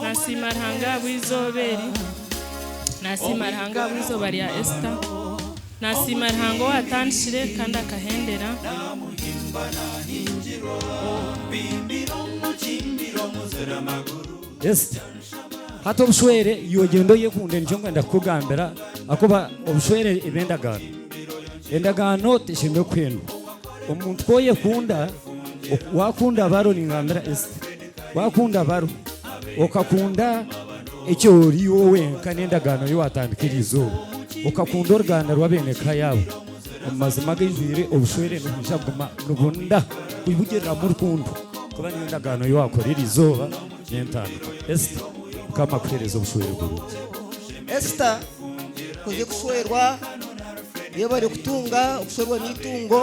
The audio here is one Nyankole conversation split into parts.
Nasiima Ruhanga ahabw'eizooba eri, Nasiima Ruhanga ahabw'eizooba rya Esita, Nasiima Ruhanga owaatandikire kandi akahendera. Esita, hati obushwere iwe gyenda oyekunde nikyo nkwenda kukugambira ahakuba obushwere eba endagaano. Endagaano teshemereire kuhendwa. Omuntu ku oyekunda, waakunda aba arooringambira Esita. Wakunda baro, okakunda eki ori iwe wenka n'endagaano ei waatandika eryo izooba, okakunda oruganda rw'ab'eneka yaabo, omu mazima agaijwire obushwere nibwija kuguma nibunda kwibugiriramu rukundo, kuba niyo ndagaano ei waakora eryo izooba n'entandikwa. Esther, Mukama akuheereze obushwere burungi. Esther, Kuze kushwerwa, reeba orikutunga, okushwerwa n'eitungo.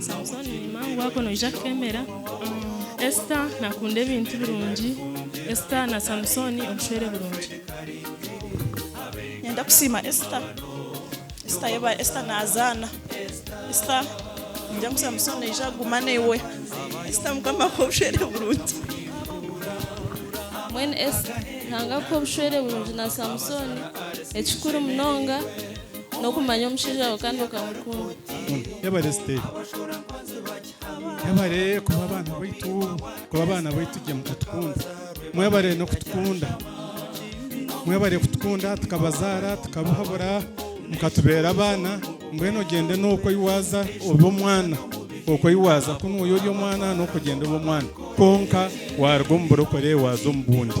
Samusoni ni mangu ago noija kufemera. Esita nakunda ebintu birungi. Esita na Samusoni obushwere burungi. Niinyenda kusiima Esita. Esita yebare. Esita nazaana. Esita niinyenda ngu Samusoni aije aguma naiwe. Esita Mukama akuhe obushwere burungi. Mbwenu Esita Ruhanga akuhe obushwere burungi na Samusoni ekikuru munonga. n'okumanya omushaija waawe kandi okamukunda. Yebare Stella. Yebare kuba abaana baitu, kuba abaana baitu gye mukatukunda. Mwebare n'okutukunda. Mwebare kutukunda tukabazaara, tukabahabura, mukatubeera abaana. Mbwenu ogyende n'okwo ei waaza obe omwana. Okwo ei waaza ku nooya ori omwana, n'okwo ogyende obe omwana. Kwonka waaruga omu burokore waaza omu bundi.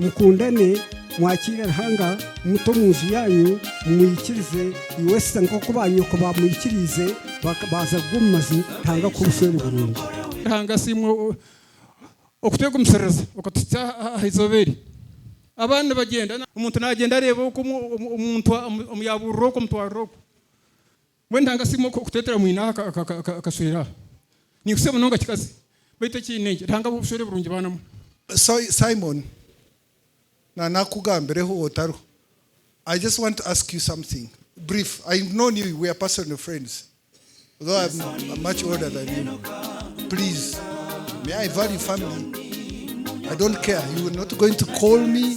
Mukundane, mwakiire Ruhanga, muta omu nju yaanyu, mumwikirize, Iwesita, nk'oku baanyoko baamwikiriize, baaza kugwa omu mazima, Ruhanga akuhe obushwere burungi. Ruhanga asiimwe okutwegumisiriza okatuhitsya aha izooba eri. Abaana nibagyenda, omuntu naagyenda areeba oku omuntu omu yaabuurira oku omutwariro oku. Mbwenu Ntanka si imwe kuteetera mwinaawe akashwera? Ninkutse munonga kikazi, baitu ekiine gye, Ruhanga abahe obushwere burungi baana mwe. Simon, na nakugambireho otariho, I just want to ask you something brief, I have known you, we are personal friends though I am much older than you, please may I value family, I don't care, you are not going to call me,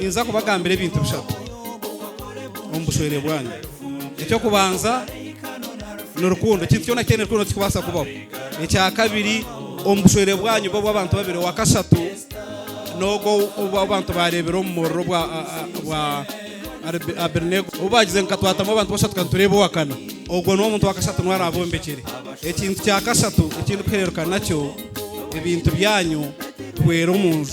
Ninza kubagambira ebintu bishatu omu bushwere bwanyu. Eky'okubanza ni rukundo. Ekintu kyona kitaine rukundo tikikubaasa kubaho. Ekya kabiri, omu bushwere bwanyu bube obw'abantu babiri. Owa kashatu n'ogwo obw'abantu baareebire omu muriro ogwa Abedenego. Obu baagize ngu katwatamu abantu bashatu kandi tureebe owa kana, ogwo niwe muntu wa kashatu niwe araabombekire. Ekintu kya kashatu eki ndikuhereruka nakyo ebintu byanyu, tuhwera omu nju.